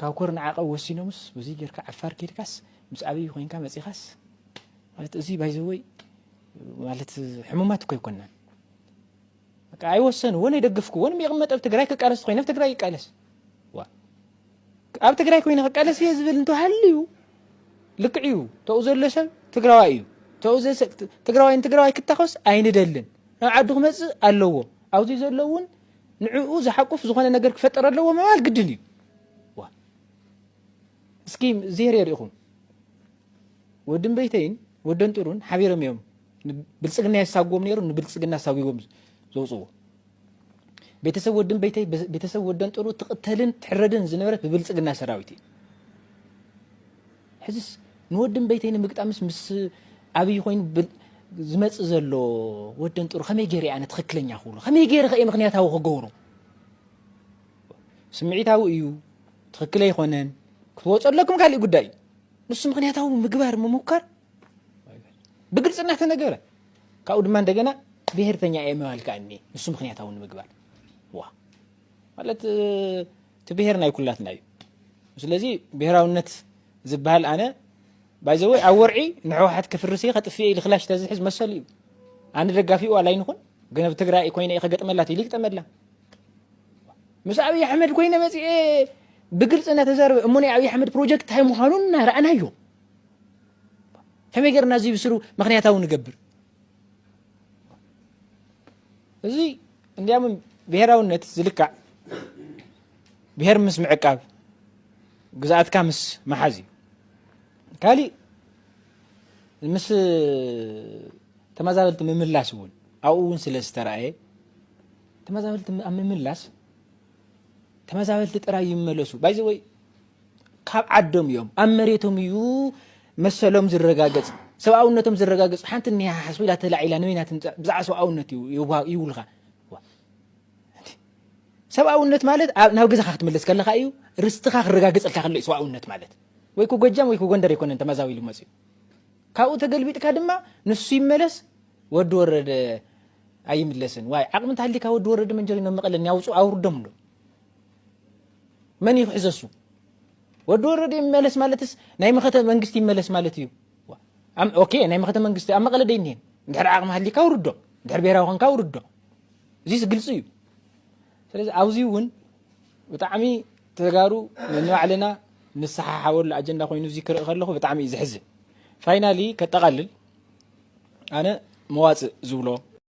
ካብ ኮርን ዓቐብ ወሲኖምስ በዙይ ጌርካ ዓፋር ኬድካስ ምስ ኣብይ ኮይንካ መፂኻስ ማለት እዙይ ባይዘወይ ማለት ሕሙማት እኮ ኣይኮናን በቃ ኣይወሰንዎን ኣይደገፍክዎን ይቕመጥ ኣብ ትግራይ ክቃለስ ኮይኑ ኣብ ትግራይ ይቃለስ ዋ ኣብ ትግራይ ኮይኑ ክቃለስ እየ ዝብል እንተሃልዩ ልክዕ እዩ ተኡ ዘሎ ሰብ ትግራዋይ እዩ ተኡ ትግራዋይ ንትግራዋይ ክታኸስ ኣይንደልን ናብ ዓዱ ክመፅእ ኣለዎ ኣብዚ ዘሎ እውን ንዕኡ ዝሓቁፍ ዝኾነ ነገር ክፈጥር ኣለዎ ምባል ግድን እዩ ዋ እስኪ ዜሬ ርኢኹም ወድን በይተይን ወደን ጥሩን ሓቢሮም እዮም ብልፅግና የሳጉዎም ነይሩ ንብልፅግና ኣሳጒቦም ዘውፅዎ ቤተሰብ ወድን በይተይ ቤተሰብ ወደን ጥሩ ትቕተልን ትሕረድን ዝነበረት ብብልፅግና ሰራዊት እዩ ሕዝስ ንወድን በይተይ ንምግጣምስ ምስ ኣብይ ኮይኑ ዝመጽእ ዘሎ ወደን ጥሩ ከመይ ገይረ ኣነ ትኽክለኛ ክብሎ ከመይ ገይረ ከ ምክንያታዊ ክገብሮ ስምዒታዊ እዩ ትኽክል ኣይኮነን ክትወፁ ኣለኩም ካሊእ ጉዳይ እዩ ንሱ ምክንያታዊ ምግባር ምሙካር ብግልፂ እናተነገረ ካብኡ ድማ እንደገና ብሄርተኛ እየ ምባል ከዓ እኒ ንሱ ምክንያታዊ ንምግባር ዋ ማለት እቲ ብሄር ናይ ኩላትና እዩ ስለዚ ብሄራውነት ዝበሃል ኣነ ባይዘወይ ኣብ ወርዒ ንሕወሓት ክፍርስ እየ ከጥፍእ እየ ክላሽ ተዝሕዝ መሰሉ እዩ ኣነ ደጋፊኡ ኣላ ይንኹን ግን ኣብ ትግራይ ኮይነ ከገጥመላ ትይል ይግጠመላ ምስ ኣብይ ኣሕመድ ኮይነ መፅኤ ብግልፂ እናተዛረበ እሞ ናይ ኣብይ ኣሕመድ ፕሮጀክት እንታይ ምዃኑ እናረኣናዮ ከመይ ገርና እዚ ብስሩ ምክንያታዊ ንገብር እዚ እንዲያም ብሄራውነት ዝልካዕ ብሄር ምስ ምዕቃብ ግዝኣትካ ምስ መሓዝ እዩ ካሊእ ምስ ተመዛበልቲ ምምላስ እውን ኣብኡ እውን ስለ ዝተረኣየ ተመዛበልቲ ኣብ ምምላስ ተመዛበልቲ ጥራይ ይመለሱ ባይዘወይ ካብ ዓዶም እዮም ኣብ መሬቶም እዩ መሰሎም ዝረጋገጽ ሰብኣውነቶም ዝረጋገጽ ሓንቲ እኒሃ ሓስቡ ኢላ ተላዒላ ንበይና ትምጻእ ብዛዕባ ሰብኣውነት ይብሉኻ ሰብኣውነት ማለት ናብ ገዛኻ ክትምለስ ከለኻ እዩ ርስትኻ ክረጋገጸልካ ከሎ እዩ ሰብኣውነት ማለት ወይ ጎጃም ወይ ጎንደር ኣይኮነን ተመዛቢሉ መጽኡ ካብኡ ተገልቢጥካ ድማ ንሱ ይመለስ ወዲ ወረደ ኣይምለስን ዋይ ዓቅሚ እንተሃልይካ ወዲ ወረደ መንጀሪኖ ኣብ መቐለ እኒኣውፁ ኣውርዶም ዶ መን እዩ ክሕዞ እሱ ወዲ ወረደ ይመለስ ማለትስ ናይ መኸተ መንግስቲ ይመለስ ማለት እዩ ኦኬ ናይ መኸተ መንግስቲ ኣብ መቐለ ደይኒህን እንድሕር ዓቅሚ ሃልይካ ውርዶ እንድሕር ብሄራዊ ኮንካ ውርዶ እዚስ ግልፂ እዩ ስለዚ ኣብዚ እውን ብጣዕሚ ተጋሩ ነንባዕልና ንሰሓሓበሉ ኣጀንዳ ኮይኑ እዚ ክርኢ ከለኹ ብጣዕሚ እዩ ዘሕዝን። ፋይናሊ ከጠቓልል ኣነ መዋጽእ ዝብሎ፣